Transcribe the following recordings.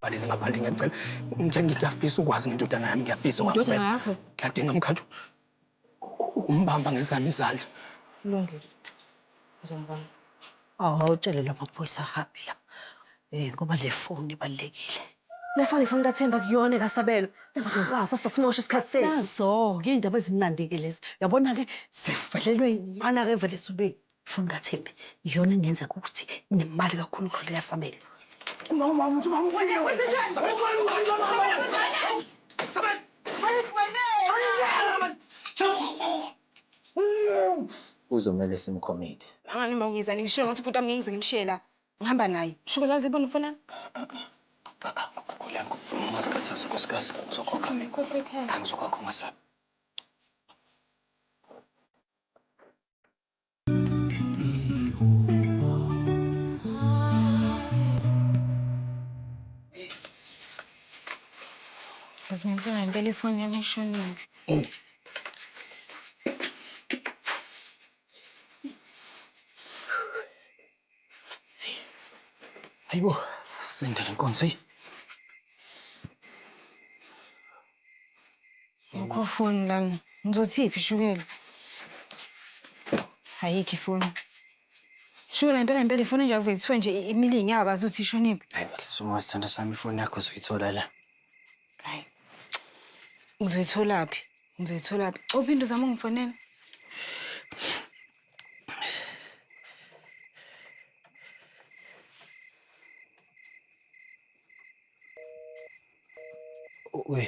Balele ngaphandle ngiyacela. Ngeke ngiyafisa ukwazi ngendodana yami ngiyafisa. Indodana yakho? Ngiyadinga mkhathu umbamba ngezami izandla. Kulungile ngizombamba. Awutshele lamaphoyisa ahambe la ngoba le foni ibalulekile. Le foni ifoni kaThemba akuyona ekaSabelo. Sasa simosha isikhathi sethu. Nazo-ke iy'ndaba ezimnandi-ke lezi. Uyabona-ke sivelelwe imana-ke evela ezulwini. Funa kaThembi iyona engenza ukuthi nemali kakhulu ukudlula eyasabelo. Kuzomele simkhomide. Angani uma ngiza nginishiya ngathi ubhuti wami ngeke ngize ngimshiye la. Ngihamba naye. Shukela waze wayibona ifoni yami? Khuleka ungazikhathazi nkosikazi ngizokhokha mina. Angizokwakha ungasabi. Yazi ngempela ngempela ifoni yami ishonile. Hayibo, sendele nkonzo eyi. Akho foni lana. Ngizothi iphi ishukela? Ayikho ifoni. Shukela ngempela ngempela ifoni enje akuvele kuthiwe nje imile iy'nyawo akazi ukuthi ishonephi. Hayi bandla sukuma sithandwa sami ifoni yakho uzoyithola la. Hhayi. Ngizoyitholaphi? Ngizoyitholaphi? Copha into uzama ukungifonela. Uy,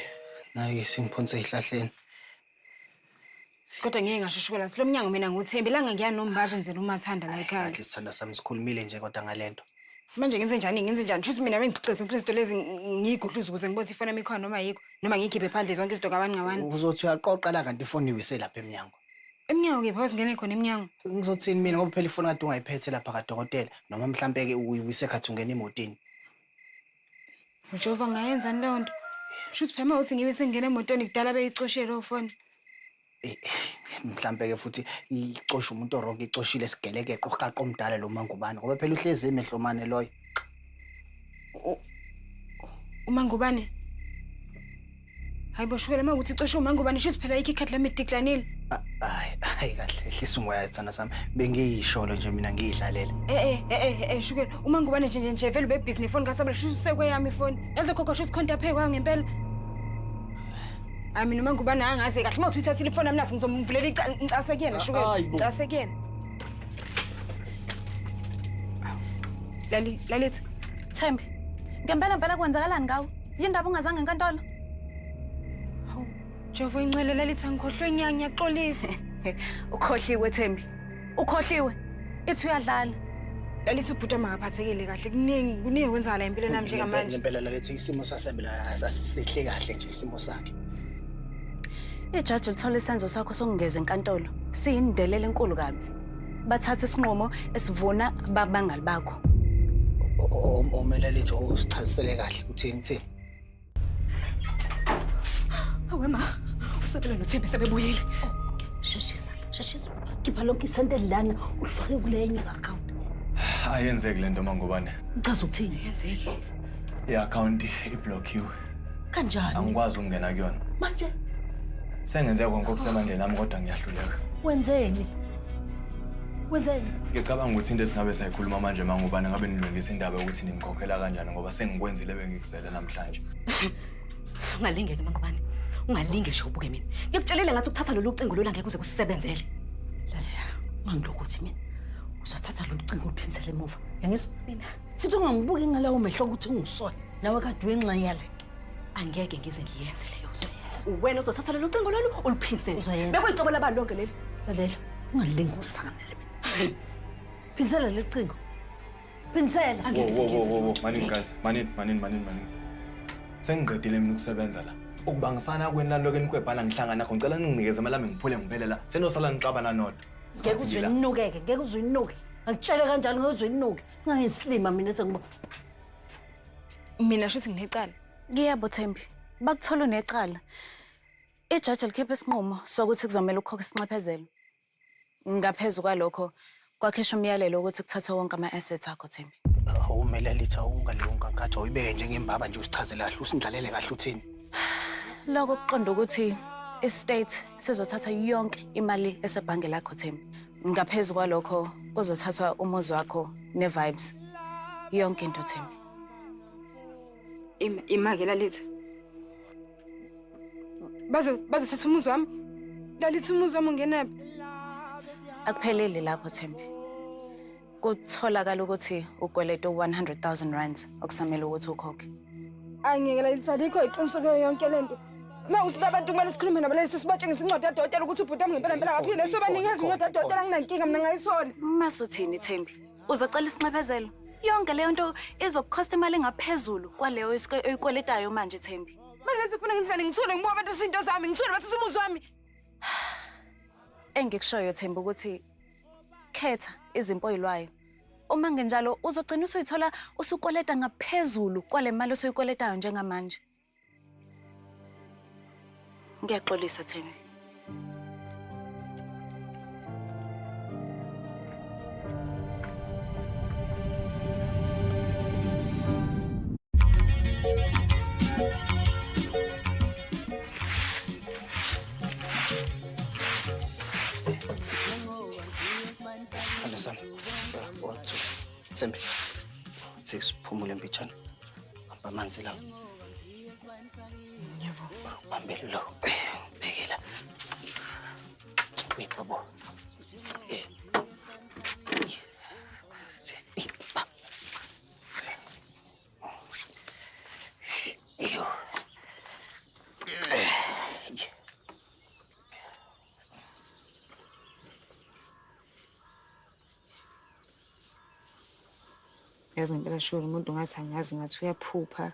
nayo isimphonse ehlahleni. Kodwa ngeke ngashushukela silo mnyango mina nguThembi langa ngiya nombazi enzela umathanda la ekhaya. Kahle sithanda sami sikhulumile nje kodwa ngalento. Manje ngenze njani ngenze njani? Shuthi mina bengigcixhe zonke izinto lezi ngiyigudluza ukuze ngibone ifona mikhona noma yikho noma ngiyikhiphe phandle zonke izinto kabaningabani. Uzothi uyaqoqa la kanti ifoni iwise lapha emnyango. Emnyango kephi abazingene khona emnyango? Ngizothini mina ngoba phela ifoni kade ungayiphethe lapha kadokotela noma mhlampe-ke uyibuyise khathi ungena emotini. Jehova ngayenzani leyo nto? Shuthi phema uthi ngibe sengingena emotweni kudala beyicoshe leyo foni. Eh, Mhlampe-ke futhi icosha umuntu oronke icoshile sigelekeqo uqaqa omdala lo mangubane ngoba phela uhlezi emehlomane loyo. Uma ngubane Hayi bo shukela makuthi icosho uma ngoba nisho siphela ikhe ikhathi lami idiklanile. Hayi hayi kahle hlisa umoya isithanda sami. Bengiyisholo nje mina ngiyidlalela. Eh eh eh eh eh shukela uma ngoba nje nje nje vele ube busy nefoni kasabela shuthi usekwe yami ifoni. Yazi lokho kosho isikhonta phe kwayo ngempela. Hayi mina uma ngoba naye angazi kahle uma uthi uthathile ifoni yami nasi ngizomvulela ica- ngicase kuyena shukela. Hayi bo. Ngicase kuyena. Lali lalithi Thembi, ngempela mpela kwenzakalani ngawe? Yindaba ungazange enkantolo? Hawu, Jehova ingcwele lalithi angikhohlwe ngiya ngiyaxolisa. Ukhohliwe Thembi. Ukhohliwe. Ithi uyadlala. Lalithi ubhuti makaphathekile kahle kuningi kuningi kwenzakala empilweni yami njengamanje. Impela lalithi isimo sasebela asisihle kahle nje isimo sakhe. Ijaji lithola isenzo sakho sokungeza enkantolo siyindelelo enkulu kabi. bathathe isinqumo esivuna babangali bakho omelelitho usichazisele kahle uthini uthini awema usebele nothembi sebebuyile sheshisa sheshisa khipha lonke isente lana ulifake kule enye i-akhawunti ayenzeki le nto mangubane uchaza ukuthini yenzeki i-akhawunti iblokhiwe Kanjani? Angikwazi ukungena kuyona. Manje sengenze konke okusemandleni ami kodwa ngiyahluleka. Wenzeni? Wenzeni? Ngicabanga ukuthi into esingabe sayikhuluma manje mangubani ngabe nilungisa indaba yokuthi ningikhokhela kanjani ngoba sengikwenzile bengikuzele namhlanje. Ungalingeke mangubani. Ungalinge nje ubuke mina. Ngikutshelile ngathi ukuthatha lolu cingo lola ngeke kuze kusebenzele. Lalela, ungangilokothi mina. Uzothatha lolu cingo uliphinsele emuva. Yangizwa mina. futhi ungangibuki ngalawo mehlo ukuthi ungisona nawe kade wenxa yale nto angeke ngize ngiyenze leyo uzoyenza uwena uzothatha lelo cingo lolu uluphindisele Uzoyenza. bekuyicebo labani lonke leli lalela ungalingi usanganele mina phindisela leli cingo phindisela Wo, wo, wo, wo, wo. Manini guys, manini, manini, manini, manini. Sengiqedile mina ukusebenza la. Ukubangisana kweni naloke nikwebhana ngihlangana nakho ngicela ninginikeze imali yami ngiphule ngivele la. Senosala nixabana nodwa. ngeke uzwe ninukeke ngeke uzwe ninuke ngakutshele kanjalo ngeke uzwe ninuke Ngayisilima mina sengiba. Mina shuthi nginecala. Ngiyabo Thembi. Bakuthola unecala. Ijaji likhiphe isinqumo sokuthi kuzomela ukukhokha isinxephezelo. Ngaphezulu kwalokho kwakhishwa umyalelo ukuthi kuthathwe wonke ama-assets akho Thembi. Awumele litha ungaleyo nkankathi oyibeke njengembaba nje usichazele kahle usindlalele kahle uthini. Lokho kuqonda ukuthi i-state sizothatha yonke imali esebhange lakho Thembi. Ngaphezu kwalokho kuzothathwa umuzi wakho ne-vibes yonke into Thembi. Ima imake lalithi. Bazo bazothatha umuzi wami. Lalithi umuzi wami ungenaphi? Akupheleli lapho Thembi. Kutholakala ukuthi ukweleta u-100,000 okusamele ukuthi ukhokhe. Angiyekela lisalikho iqiniso kuyo yonke le nto. Uma uthi abantu kumele sikhulume nabo lesi sibatshengisa incwadi yadokotela ukuthi ubhuti wami ngempela ngempela akaphile. Siyobanikeza incwadi yadokotela anginankinga mina ngayithola. Mase uthini Thembi? Uzocela isinxephezelo? Yonke leyo nto izokukhosta imali engaphezulu kwaleyo esike- oyikweletayo manje Thembi. Manje lesifuna ngendlela ngithule ngibuka abantu izinto zami ngithule bathatha umuzi wami. Engikushoyo Thembi ukuthi Khetha izimpo oyilwayo. Uma ngenjalo uzogcina usuyithola usukweleta ngaphezulu kwale mali osuyikweletayo njengamanje. Ngiyaxolisa Thembi. Sithando sami. One, two. Thembi. Six, phumule mpitshana. Hamba amanzi lawo. Ngiyabonga. Bambele lo. Bhekela. Wait, babo. Eh. Eh, ba. yazi ngempela sholo umuntu ngathi angazi ngathi uyaphupha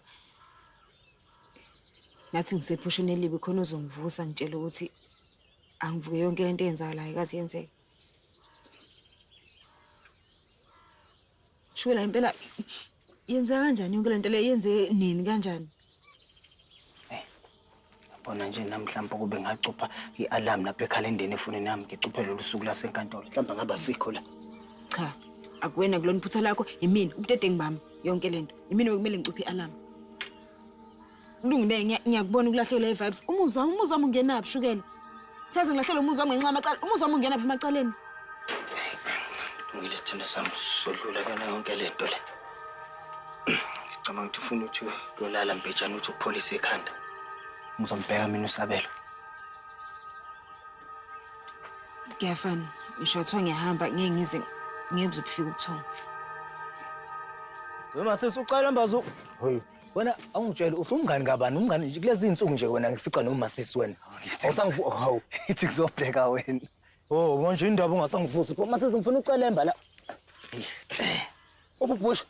ngathi ngisephusheni elibi khona uzongivusa ngitshela ukuthi angivuke yonke lento eyenzakalayo kazi yenzeke Shwela impela yenza kanjani yonke lento le yenze nini kanjani? Bona nje namhlanje ukube ngacupha i-alarm lapha ekhalendeni efonini yami ngicuphe lolu suku lasenkantolo. Mhlawumbe ngaba sikho la. Cha, akuwena kulona iphutha lakho, yimina ubudedengu bami yonke lento. Yimina bekumele ngicuphe i-alarm. Kulungile ngiya- ngiyakubona ukulahlekelwa i-vibes. Umuzwa wami, umuzwa wami ungenaphi shukela? Saze ngilahlekelwe umuzwa wami ngenxa yamacala. Umuzwa wami ungenaphi emacaleni? Ngile sithando sami sodlula kuyona yonke le nto le. Ngicabanga ukuthi ufuna ukuthi uyolala mbejane ukuthi upholise ikhanda. Ngizomubheka mina usabelo. Ngiyafana. Ngisho kuthiwa ngiyahamba ngeke ngize ngeke buze bufike ubuthongo. Noma sisi ucela mbazo. Hoyi. Wena awungitshele usumngani kabani umngani nje kulezi insuku nje wena ngifica noma sisi wena. Awusangifu hawu. Ithi kuzobheka wena. Oh manje indaba ungasangivusi pho mase ngifuna ucelemba la. Ububusha.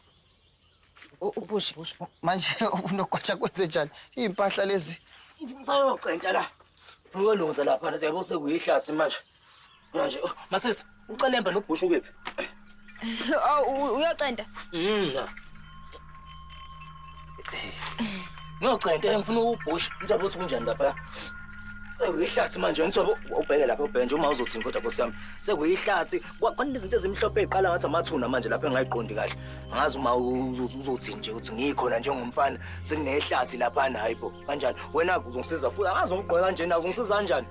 Ubusha. Manje unogwatsha kwenze njani? Impahla lezi. Ngifuna usayocentsha la. Ngiyolungisa lapha nje yabo sekuyihlathi manje. Manje oh, masisi ucelemba nobhushu kephi? Oh uyocenta. Mm. Ngiyocenta ngifuna ubhushu. Mthobo uthi kunjani lapha? Sekuyihlathi manje ngithobe ubheke lapha ubhenje uma uzothini kodwa Nkosi yami. Sekuyihlathi kwakhona izinto ezimhlophe eziqala ngathi amathuna manje lapha engayiqondi kahle. Angazi uma uzothini nje ukuthi ngikhona njengomfana sekunehlathi lapha hayibo kanjani. Wena uzongisiza futhi angazi ungigqoka kanjena uzongisiza kanjani?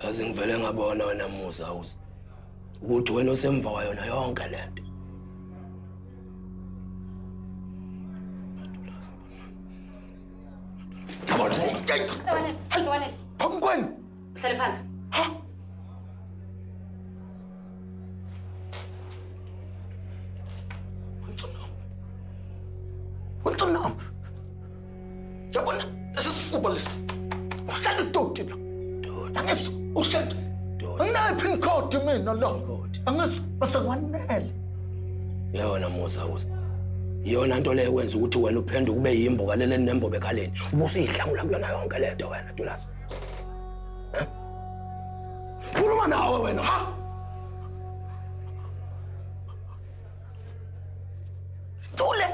Kaze ngivele ngabona wena Musa uze ukuthi wena osemva kwayo na yonke le nto. Yabona. Sawanele, sawanele. Phakukweni. Uhlale phansi. Ha? What's on now? Yabona lesisifuba lesi. Uhlala udoti la. Angizwa uhlala. Anginayo pin code mina la. Angizwa basekwanele. Yona musa uza. Iyona nto leyo kwenza ukuthi wena uphenduke ube yimbo kaleleni nembobo ekhaleni. Ubusuyidlangula kuyona yonke le nto wena Dulasi. Khuluma nawe wena. Ha! Thule.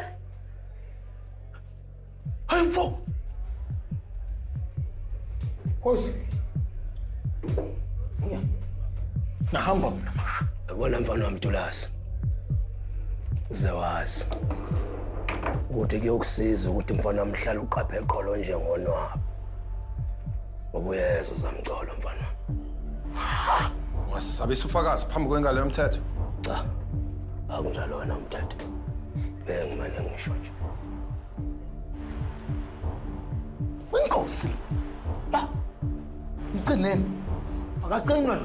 Hayi mfo. Khosi. Nya. Nahamba mina. Yabona mfana wami Tulasi. Uzawazi. Ukuthi kuyokusiza ukuthi mfana wami hlala uqaphe qolo njengonwabo. Ubuyeza uzamcolo mfana. Ungasisabisa ufakazi phambi kwengalo yomthetho. Cha. Akunjalo wena umthetho. Bengimane ngisho nje. Inkosi. Ba. Mcineni. Akacinwe.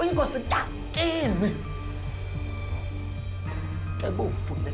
Inkosi takini. Ekufu le.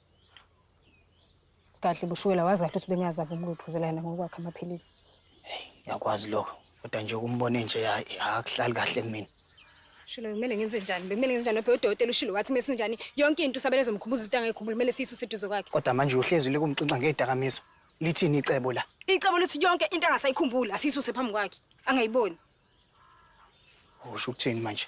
Kahle bushukela wazi kahle ukuthi bengiyazama ukumluphuzela yena ngokwakhe amaphilisi. Hey, ngiyakwazi lokho. Kodwa nje ukumbona nje akuhlali kahle kumina. Shilo kumele ngenze njani? Bekumele ngenze njani? Nophe udokotela ushilo wathi mese njani? Yonke into usabele zomkhumbuza into angayikhumbuli kumele siyisu seduze kwakhe. Kodwa manje uhlezi likumxinxa ngedakamizwa. Lithini icebo la? Icebo lithi yonke into angasayikhumbuli asiyisuse phambi kwakhe. Angayiboni. Usho ukuthini manje?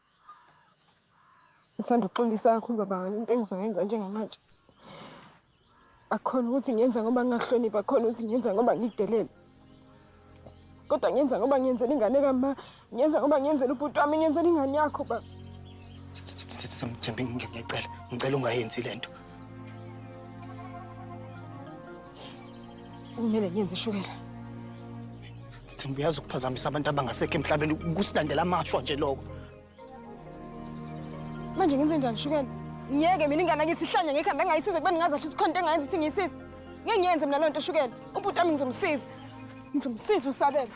Ngithanda ukuxolisa kakhulu baba ngale nto engizoyenza njengamanje. Akukhona ukuthi ngiyenza ngoba ngingahloniphi, akukhona ukuthi ngiyenza ngoba ngidelele. Kodwa ngiyenza ngoba ngiyenzela ingane kama, ngiyenza ngoba ngiyenzela ubhuti wami, ngiyenzela ingane yakho baba. Samthembi ngiyacela, ngicela ungayenzi le nto. Kumele ngenze ishukela. Themba uyazi ukuphazamisa abantu abangasekho emhlabeni kusilandela amashwa nje lokho. Manje ngenze njani shukela? Ngiyeke mina ingane yakithi ihlanya ngekhanda ngayisiza kuba ningazi ukuthi khona into engayenza ukuthi ngiyisize. Ngeke ngiyenze mina loo nto shukela. Ubhuti wami ngizomsiza. Ngizomsiza usabela.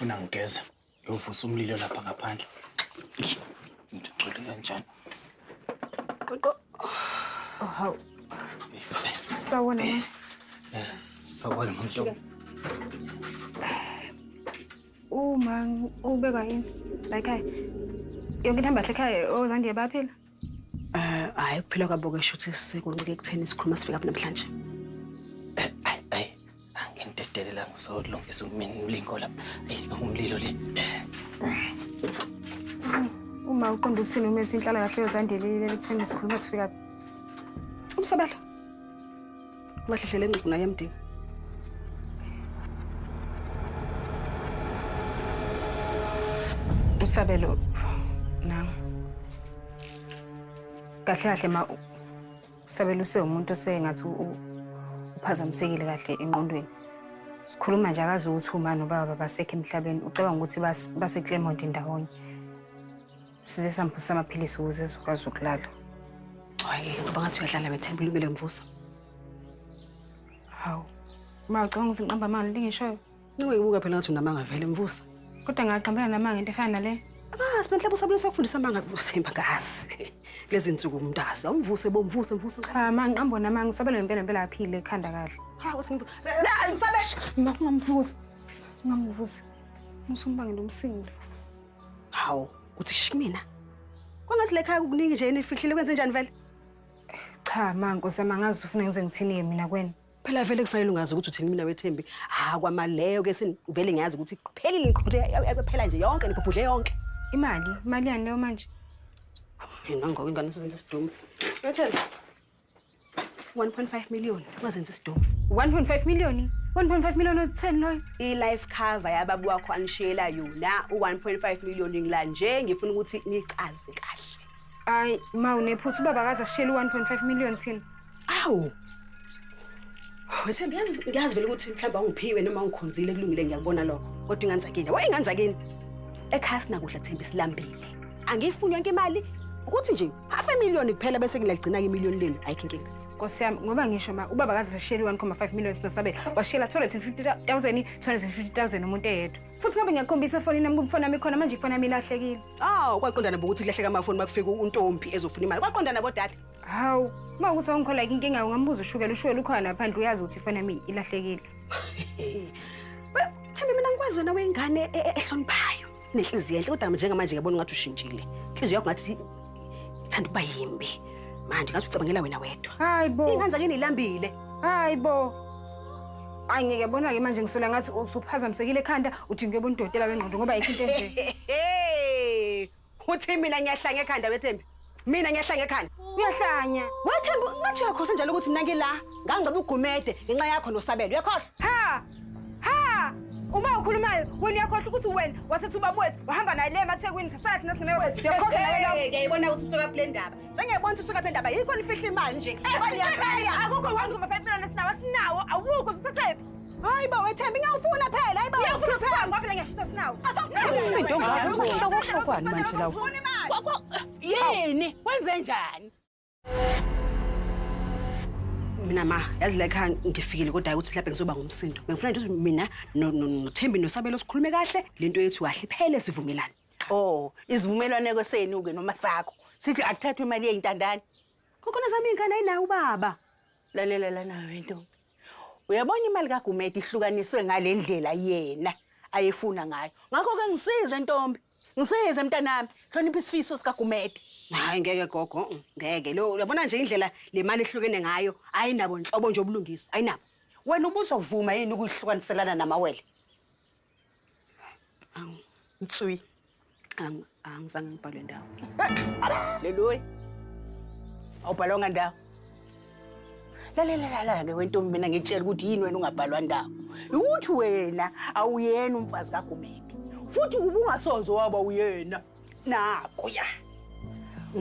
Ngifuna ngigeze. Ngiyovusa umlilo lapha ngaphandle. Into igcwele kanjani? Qoqo. Oh, hawu. Sawona. Eh, eh, sawona manje. Uma ubekwa yini? La ekhaya. Yonke into hambahle ekhaya ozandiye oh, baphila? Eh, hayi kuphila kwabo ke shuthi sekuncike ekutheni sikhuluma sifika apha namhlanje. Eh, ayi ayi angintedelela ngisolungisa umini ulingo lapha. Ayi umlilo le. Uma uqonda ukuthini umethi inhlala kahle yozandile lelithini sikhuluma sifika. Umsabalo. Ungahlehlela engqugquna yamdinga. Usabelo nami. Kahle kahle ma usabelo usewumuntu osengathi uphazamisekile kahle enqondweni. Sikhuluma nje akazi ukuthi uma nobaba basekho emhlabeni ucabanga ukuthi base Clermont ndawonye. Size samvusa amaphilisi ukuze ezokwazi ukulala. Hayi, ngoba ngathi uyadlala bethemba ulibele mvusa. Hawu. Uma ucabanga ukuthi ngiqamba amanga into engishoyo. Niwe ibuka phela ngathi unamanga vele mvusa. Kodwa ngaqambela namanga into efana nale. Ah, sibenhle busabulisa ukufundisa amanga kusemba kazi. Lezi nsuku umntazi awumvuse bomvuse mvuse. Cha, ma ngiqambo namanga usabela ngempela ngempela aphile ekhanda kahle. Ha, uthi mvusa. La, ngisabe. Ngakho ngamvusa. Ngamvusa. Musumbangela umsindo. Hawu, uthi shi mina? Kwangathi lekhaya kukuningi nje enifihlile kwenze njani vele? Cha ma Nkosi yami angazi ufuna ngenze ngithini-ke mina kwena. Phela vele kufanele ungazi ukuthi uthini mina wethembi. Ha kwamaleyo ke senivele ngiyazi ukuthi kuphelile ngiqhubhe yaphela nje yonke nibhubhudle yonke. Imali, imali yani leyo manje? Mina ngoku ingane sizenza isidumo. Wethembi. 1.5 million wazenza isidomu 1.5 million 1.5 million otheni loyo i-life cover yababu wakho anishiyela yona u-1.5 million ngila nje ngifuna ukuthi nicaze kahle hayi ma unephutha ubaba akaze ashiyele u-1.5 million thina awu wethembi ngiyazi vele ukuthi mhlawumbe awungiphiwe noma ungikhonzile kulungile ngiyakubona lokho kodwa inganzakini wa inganzakini ekhaya sinakudla thembi silambile angiyifuni yonke imali ukuthi nje half a million kuphela bese ngilagcina-ke imiliyoni lenu ayikho inkinga nkosi yami ngoba ngisho ma ubaba kaze sishiyele i-1,5 million sinosabe washiyela 250,000 250,000 umuntu eyedwa futhi ngabe ngiyakhombisa efonini nami kumfoni nami khona manje ifoni yami ilahlekile awu kwaqondana bokuthi kulahleka amafoni uma kufika untombi ezofuna imali kwaqondana bodade hawu uma ukuthi awungikhola ke inkinga ungambuza ushukela ushukela ukhona phandle uyazi ukuthi ifoni yami ilahlekile Thembi mina ngikwazi wena wengane e- e- ehloniphayo nenhliziyo enhle kodwa njengamanje ngiyabona ungathi ushintshile inhliziyo yakho ngathi ithanda ukuba yimbi manje ngathi ucabangela wena wedwa hayi bo ingane zakini ilambile hayi bo Hayi ngeke bona ke manje ngisola ngathi usuphazamisekile ekhanda uthi ngeke bonidotela bengqondo ngoba ayikho into enje. Uthi mina ngiyahlanga ekhanda wethembi. Mina ngiyahlanya ekhanda. Uyahlanya. Wathemba ngathi uyakhohlwa njalo ukuthi mina ngila. Ngangcoba ugumede ngenxa yakho nosabelo. Uyakhohlwa? Ha! Ha! Uma ukhulumayo wena uyakhohlwa ukuthi wena wathatha ubaba wethu wahamba naye le mathekwini sasala thina singene wethu. Uyakhohlwa naye lapho. Ngiyayibona ukuthi usuka kule ndaba. Sengiyabona ukuthi usuka kule ndaba. Yikho nifihla imali nje. Akukho wangu mafayipilana sinawo sinawo awukho sisethephi. Hayi bo wethemba ngiyawufuna phela hayi bo. Ngiyafuna ukuhamba ngoba phela ngiyashisa sinawo. Umsindo ongaka kuhlokohlokwani manje lawo. Ngifuna imali. Kwa- kwa- Yini? Wenze njani? mina ma yazi la ekhaya ngifikile kodwa hhayi ukuthi mhlawumbe ngizoba ngumsindo bengifuna nje ukuthi mina no- no- nothembi nosabelo sikhulume kahle le nto yethu kahle iphele sivumelane Oh, isivumelwaneko senu-ke noma sakho. Sithi akuthathwe imali yeyintandane. kokhona zami iy'ngane ayinaye ubaba Lalela lana wento. Uyabona imali kaGumede ihlukaniswe ngale ndlela yena ayefuna ngayo. Ngakho-ke ngisize ntombi, ngisize mntanami, hlonipha isifiso sikaGumede. Hayi ngeke gogo, mm, ngeke. Lo uyabona nje indlela le mali ehlukene ngayo, ayinabo nhlobo nje ubulungiswa, ayinabo. Wena ubuzovuma yini ukuyihlukaniselana namawele? Ang, Tsui. Ang, ang sang palo daw. Leloy. Aw palo nga daw. Lalela lalela ke wentombi mina ngitshela ukuthi yini wena ungabhalwa ndawo. Ukuthi wena awuyena umfazi kaGumede. Futhi ubungasonzo waba uyena. Naku ya.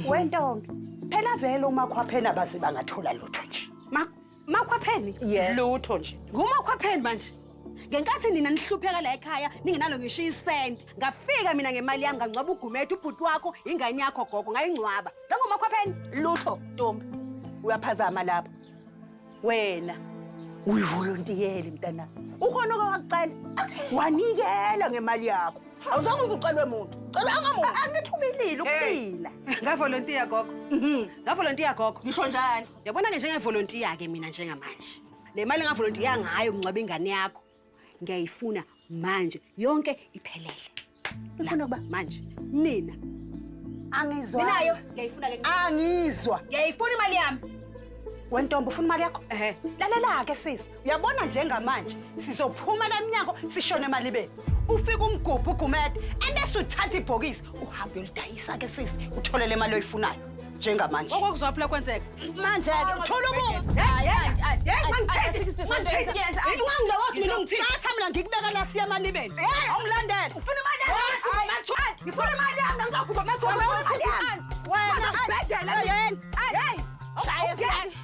Wentombi, phela vele umakhwaphela baze bangathola lutho nje. Mak, Makhwapheni? Yeah. Lutho nje. Ngumakhwapheni manje. Ngenkathi nina nihlupheka la ekhaya ningenalo ngisho isenti. Ngafika mina ngemali yami ngangcwaba uGumede ubhuti wakho ingane yakho gogo ngayingcwaba. Ngangumakhwapheni? Lutho ntombi. Uyaphazama lapho. Wena uyivolontiyeli mntana. Ukhona oke wakucela. Wanikela ngemali yakho. Awuzange uze ucelwe muntu. Cela angamuntu. Angithubelile ukuphila. Ngavolontiya gogo. Mhm. Ngavolontiya gogo. Ngisho njalo. Yabona-ke njengevolontiya-ke mina njengamanje le mali engavolontiya ngayo kungcwaba ingane yakho ngiyayifuna manje yonke iphelele ufuna ukuba manje nina angizwa ninayo ngiyayifuna ke angizwa ngiyayifuna imali yami wentombo ufuna imali yakho ehe lalela-ke sisi Uyabona njengamanje sizophuma la mnyango sishone emalibeni. Ufika umgubhu ugumede ebese uthatha ibhokisi uhambe ulidayisa ke sisi uthole le mali oyifunayo njengamanje. Okokuzwa phela kwenzeka. Manje ke uthola uku. Hayi anti anti. Hey mangithengi. Mangithengi. Ungangile wathi mina ngithini? Thatha mina ngikubeka la siya emalibeni. Awulandele. Ufuna imali yami. Mathu anti. Ngifuna imali yami ngizokhuba mathu. Ngifuna imali yami. Wena. Bedela mina. Hey. Shaya siyani.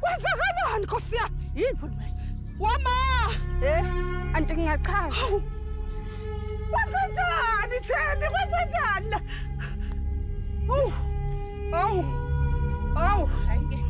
Kwenzakalani Nkosi yami? Yini futhi manje? Wama! Eh, anti ngingachaza. Hawu. Kwenza njani Thembi? Kwenza njani la? Hawu. Hawu. Hawu. Hayi.